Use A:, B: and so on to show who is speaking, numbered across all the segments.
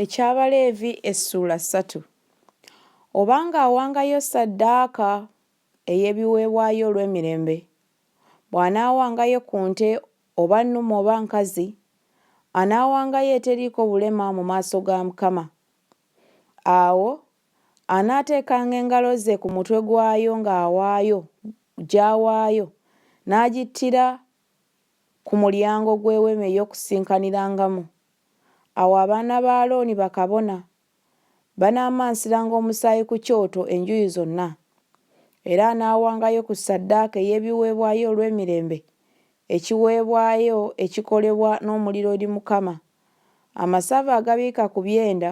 A: Eky'Abaleevi Essuula ssatu Oba nga awangayo ssaddaaka ey'ebiweebwayo olw'emirembe, bw'anaawangayo ku nte oba nnume oba nkazi, anaawangayo eteriiko bulema mu maaso ga Mukama. Awo anaateekanga engalo ze ku mutwe gwayo ng'awaayo, gy'awaayo, n'agittira ku mulyango gw'Eweema ey'Okusinkanirangamu. Awo abaana ba Alooni bakabona banaamansiranga omusaayi ku kyoto enjuyi zonna, era anaawangayo ku ssaddaaka ey'ebiweebwayo olw'emirembe ekiweebwayo ekikolebwa n'omuliro eri Mukama, amasavu agabiika ku byenda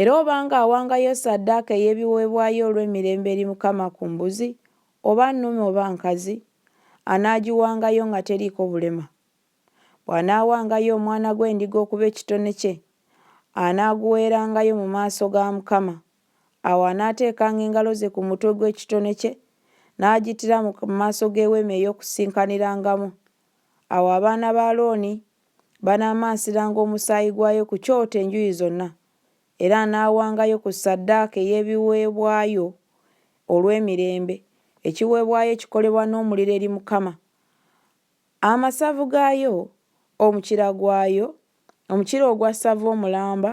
A: Era obanga awangayo ssaddaaka ey'ebiweebwayo olw'emirembe eri Mukama ku mbuzi, oba nnume oba nkazi, anaagiwangayo nga teriiko bulema. Bw'anaawangayo omwana gw'endiga okuba ekitone kye, anaaguweerangayo mu maaso ga Mukama. Awo anaateekanga engalo ze ku mutwe gw'ekitone kye, n'agittira mu maaso g'Eweema ey'Okusinkanirangamu. Awo abaana ba Alooni Banaamansiranga omusaayi gwayo ku kyoto enjuyi zonna, era anaawangayo ku ssaddaaka ey'ebiweebwayo olw'emirembe ekiweebwayo ekikolebwa n'omuliro eri Mukama, amasavu gaayo, omukira gwayo, omukira ogwa ssava omulamba,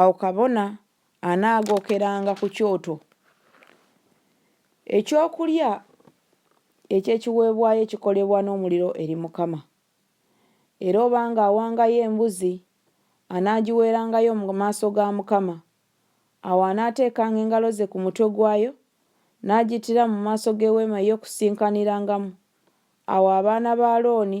A: Awo kabona anaagookeranga ku kyoto ekyokulya eky'ekiweebwayo ekikolebwa n'omuliro eri Mukama. Era obanga awangayo embuzi, anaagiweerangayo mu maaso ga Mukama. Awo anaateekanga engalo ze ku mutwe gwayo, n'agittira mu maaso g'Eweema ey'Okusinkanirangamu. Awo abaana ba Alooni.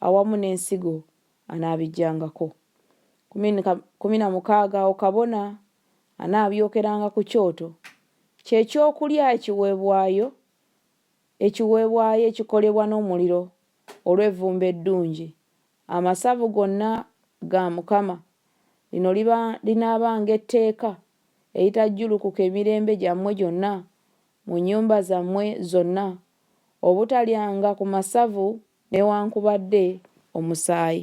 A: awamu n'ensigo anaabiggyangako. Kumi kumi na mukaaga awo kabona anaabyokeranga ku kyoto ky'ekyokulya ekiweebwayo, ekiweebwayo ekikolebwa n'omuliro olw'evvumbe eddungi, amasavu gonna ga Mukama. Lino liba linaabanga etteeka eritajjulukuka emirembe gyammwe gyonna mu nnyumba zammwe zonna, obutalyanga ku masavu newankubadde omusaayi.